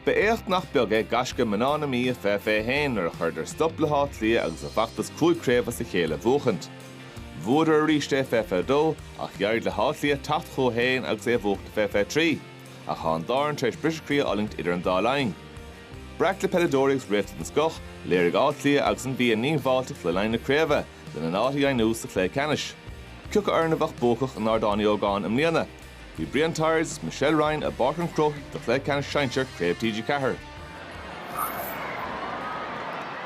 Ba éacht nach beag é gaisce mná na Mí i 2021 nuair a chuireadar stop le hÁth Cliath agus a bhfeachtas cúig craobh as a chéile a bhuachaint. Bhuadar arís é i 2022 ach d'éirigh le hÁth Cliath teacht chucu féin agus é a bhuachaint i 2023. Ach tá an dá fhoireann tar éis briseadh croí a fhulaingt idir an dá linn. Breac le peileadóirí agus réalta den scoth, léirigh Áth Cliath agus an Mhí a ndíongbháilteacht le linn na craoibhe, lena n-áit a dheimhniú sa chluiche ceannais. Cioca foireann a bheadh buacach in Ardán Uí Ógáin i mbliana? Bhí Brian Tyers 's Michelle Ryan i bPáirc an Chrócaigh do Chluiche Ceannais Sinsear Craobh TG4.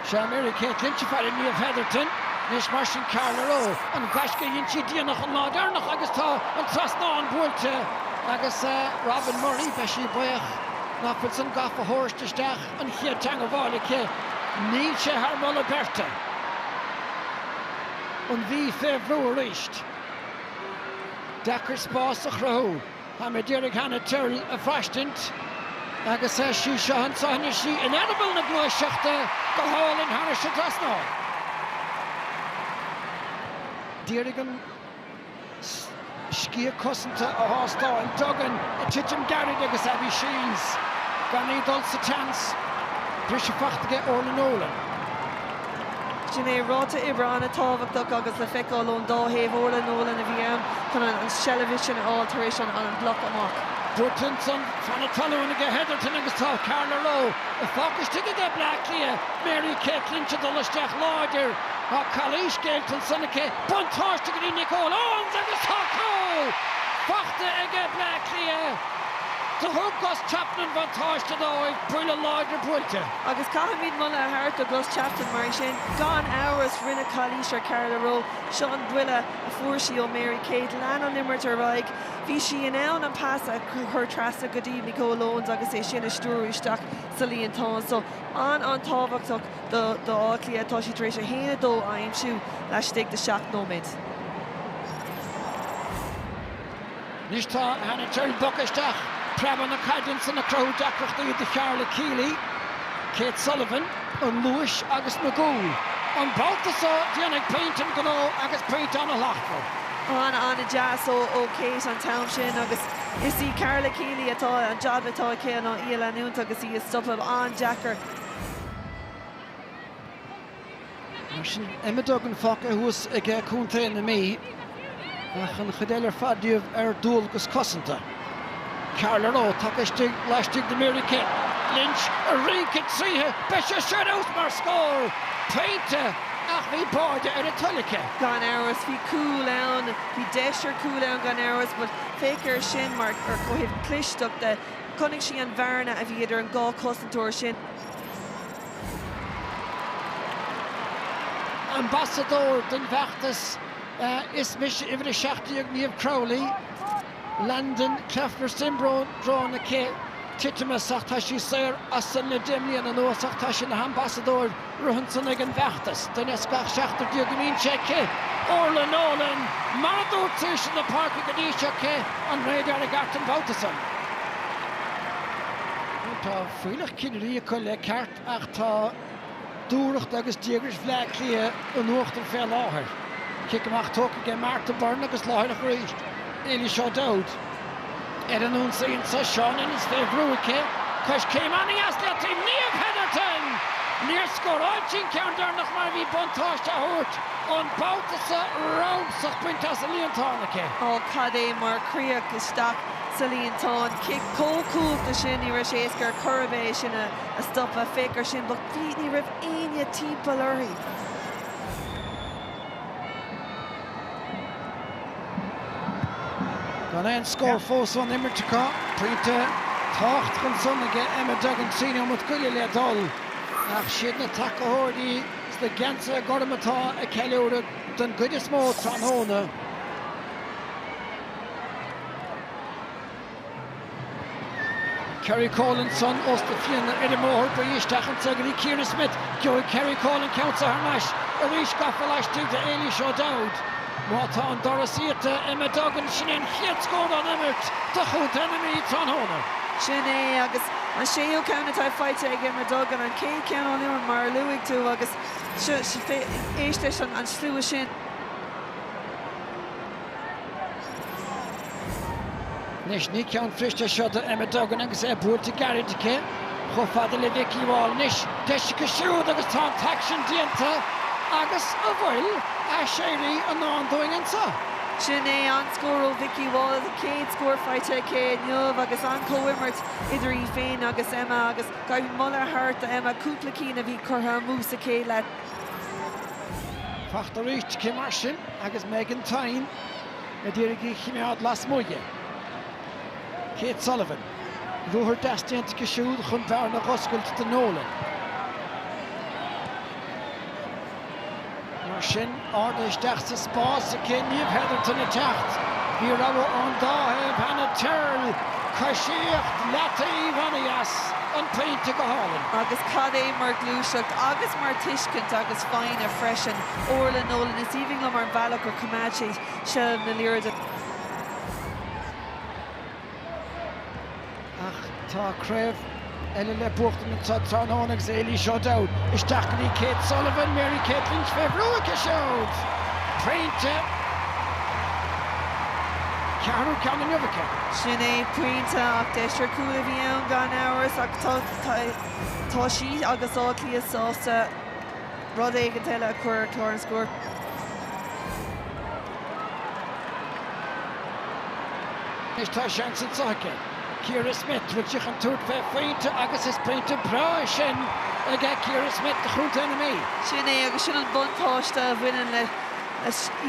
Seo Mary Kate Lynch, faire Niamh Hetherton, anois mar sin Carla Rowe. An gaisce a dhein sí déanach an lá deireanach agus tá an trasnán buailte agus Robyn Murray, beidh sí buíoch nach bhfuil san gafa thairsti isteach an chéad teangmháil aici. Níl sé thar mholadh beirte. An Mhí fé bhrú arís. deacair spás a chruthú. Tá mé ag iarraidh Hannah Tyrrell a bhraistint agus is í seo an tsáinn. Is í in eireaball na gluaiseachta go hálainn thairis an trasnán. D'iarraidh an sciath cosanta a thástáil. Duggan ag titim gairid agus Abby Shiels gan í dul sa tseans. Briseadh fachta aige Orlagh Nolan. Sin é ráta oibre an-tábhachtach agus le feiceáil ón dá thaobh Orlagh Nolan a bhí ann chun an tseilbh sin a fháil tar éis an an bloc amach. Durkinson, tá na talúin aige Hetherton agus tá Carla Rowe ar fáil istigh aige Bleá Cliath, Mary Kate Lynch ag dul isteach láidir. Tá calaois déanta ansan aici buntáiste go dtí Nicole Owens agus tá cúl fachta aige Bleá Cliath. Do thug Gus Chapman buntáiste dóibh, buille láidir buailte. Agus caithfimid moladh a thabhairt do Gus Chapman mar é sin. Gan amhras rinneadh calaois ar Carla Rowe. Seo an buille a fuair sí ó Mary Kate. Lean an imirt ar aghaidh. Bhí sí in ann an pas a chur trasna go dtí Nicole Owens agus é sin a stiúradh isteach sa líontán. So an an tábhachtach do do Áth Cliath atá siad tar éis 1, 2 a aimsiú laistigh de 7 nóiméad. Anois tá Hannah Tyrrell bogtha isteach, preabadh na caide ansan ag cruthú deacrachtaí do Karla Kealy, Kate Sullivan. an luas agus na gcúl. An babhta seo déanfaidh pointe an gnó agus pointe ana shlachtmhar. ana ana dheas ó Kate an t-am sin agus is í Karla Kealy atá, an jab atá aici ná í a leanúint agus í a stopadh. An-deacair. Mar sin, Emma Duggan fágtha thuas aige contae na Mí ach an chuid eile ar fad díobh ar dualgas cosanta. Carla Rowe tagtha istigh laistigh de Mary Kate Lynch ag rince tríthi. Beidh sé sin out mar scór pointe ach bhí báide ar a toil aici. Gan amhras, bhí cúl ann, bhí deis ar chúl ann gan amhras but féach air sin mar ar ó thaobh clisteachta. Chonaic sí an bhearna a bhí idir an dhá chosantóir sin. Ambasadóir don bhfeachtas 'Is mise Uimhir 17 Niamh Crowley', Landau Kleffner Siondróm aici, titimeas ach tá sí saor as san le 10 mbliana anuas ach tá sí ina hambasadóir ansan ag an bhfeachtas. Duine as gach seachtar déag a mbíonn sé aici. Orlagh Nolan, Mar a dúirt seisean na páirce go dtí seo cé an réad aerach art an babhta san? Fuílleach cinnirí acu le ceart ach tá dúthracht agus díograis Bhleá Cliath in uachtar fé láthair. Cic amach tógtha aige Martha Byrne agus láithreach arís Eilish O'Dowd. Ar an ionsaí anseo Shauna Ennis fé bhrú aici, coiscéim ana-dheas i leataobh Niamh Hetherton! Níor scóráil sí an ceann deireanach mar bhí buntáiste á thabhairt an babhta so rogha sa bpointe sa líontán aici. Ó cad é mar chríoch isteach sa líontán. Cic chomh cumhachtach sin, ní raibh sé éasca ar chor ar bith é sin a stopadh, féach air sin, but bhí, ní raibh éinne timpeall uirthi. Gan aon scór fós ón imirt acu, pointe tábhachtach ansan ag Emma Duggan, trí nóimeat go leith le dul, ach siad na tacaitheoirí sna geansaithe gorma atá ag ceiliúradh den gcuid is mó tráthnóna. Kerrie Cole ansan os do chionn ar an mbóthar faoi isteach in sa gcluiche Ciara Smyth, gheobhaidh Kerrie Cole an ceann so thar n-ais arís gafa laistigh de Eilish O'Dowd. Má tá an doras iata Emma Duggan, sin é an chéad scór ón imirt do chontae na Mí tráthnóna. Sin é agus an séú ceann atá faighte ag Emma Duggan, an chéad cheann ón imirt mar a luaigh tú agus seo, éist leis an slua sin. Anois ní ceann fuirist é seo do Emma Duggan agus é buailte gairid aici. Chomh fada le Vikki Wall anois. Deis aici siúd agus tá an t-aicsean déanta agus an bhfuil aiséirí i ndán dúinn anseo? Sin é an scór ó Vikki Wall, a céad scór faighte aici inniu agus an-chomhimirt idir í féin agus Emma agus caithfidh moladh a thabhairt do Emma, cúpla cinn a bhí curtha amú sa chéad leath. Faighte arís aici mar sin. Agus Megan Thynne ag iarraidh í a choimeád lasmuigh de, Kate Sullivan, ruathar deas déanta aici siúd chun bearna dh'oscailt do Nolan. Mar sin, ardaithe isteach sa spás aici, Niamh Hetherton ag teacht, bhí rogha ón dá thaobh, Hannah Tyrrell, coisíocht, leataobh, ana-dheas, an pointe go hálainn. Agus cad é mar ghluaiseacht agus mar tuiscint agus foighne freisin. Orlagh Nolan, Is aoibhinn liom an bealach gur choimeád sí seilbh na liathróide. Ach tá craobh eile le buachtaint anseo tráthnóna agus Éilish O'Dowd isteach go dtí Kate Sullivan, Mary Kate Lynch fé bhrú aici siúd. Pointe, ceathrú ceann inniu aici. Sin é, pointe, ach deis ar chúl a bhí ann gan amhras ach tá sí agus Áth Cliath sásta. Rud éigin eile a chur ar chlár an scóir. Anois tá seans anseo ag Ciara Smyth, bhfuil sí chun tabhairt fé phointe agus is pointe breá é sin ag Ciara Smyth do Chontae na Mí. Sin é agus sin an buntáiste a bhaineann le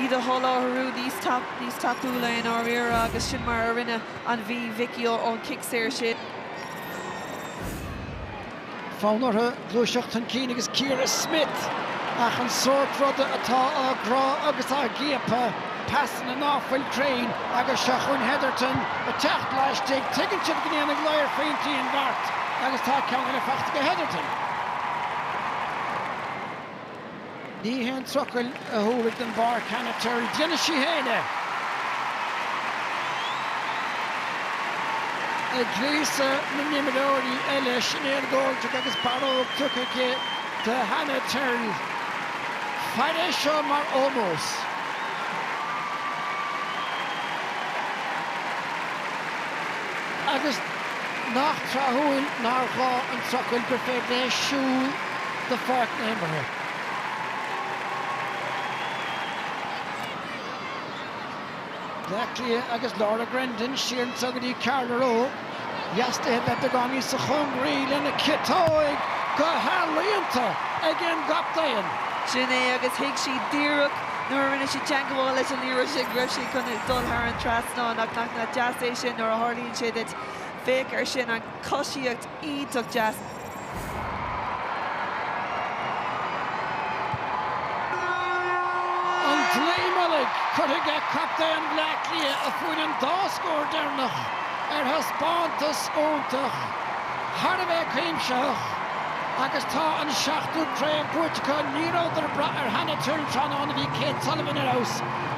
iad a sholáthrú níos tapúla i ndáiríre agus sin mar a rinne an Mhí Mhicí ón chic saor sin. Fonn orthu gluaiseacht chun cinn agus Ciara Smyth, ach an sórt ruda atá á gcrá agus á gciapadh, pasanna ná fuil cruinn agus seo chugainn Hetherton ag teacht laistigh, tuigeann siad go ndéanfaidh ladhar pointí an beart agus tá ceann eile faighte ag Hetherton. Ní haon trucail a thabharfaidh den bpáirc Hannah Tyrrell, déanfaidh sí féin é! Ag gríosadh na n-imreoirí eile, Sinéad Goldrick agus barróg tugtha aici do Hannah Tyrrell. Fair é seo mar ómós. Agus nach tráthúil nár ghá an trucail gur féidir léi siúl. de pháirc na himeartha. Bleá Cliath agus Laura Grendon siar anseo go dtí Carla Rowe. Dheas di a bheith beagáinín níosa chóngaraí lena ciotóig go healaíonta ag an gcaptaen. Sin é agus thuig sí díreach nuair a rinne sí teangmháil leis an liathróid sin go raibh sí chun dul thar an trasnán ach nach deas é sin nuair a tharlaíonn sé duit. Féach ar sin, an choisíocht. An dlaoi mullaigh curtha ag captaen Bhleá Cliath a fuair an dá scór deireanach ar thaispeántas iontach, thar a bheith cuimsitheach agus tá an seachtú craobh buaite acu. Ní rabhadar ag brath ar Hannah Tyrrell tráthnóna, bhí Kate Sullivan ar fheabhas,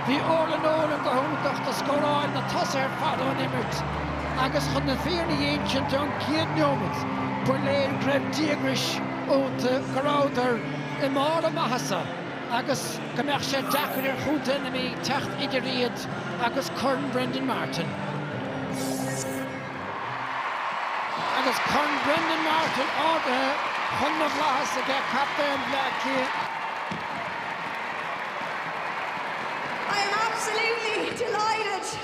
bhí Orla Nolan go hiontach do scóráil na tosaithe ar fad ón imirt. Agus chun na fírinne a insint ón gcéad neomat ba léir go raibh díograis iontu, go rabhadar i mbarr a maitheasa agus go mbeadh sé deacair ar chontae na Mí teacht idir iad agus corn Brendan Martin. Agus corn Brendan Martin ardaithe chun na bhflaitheas aige captaen Bhleá Cliath, I am absolutely delighted.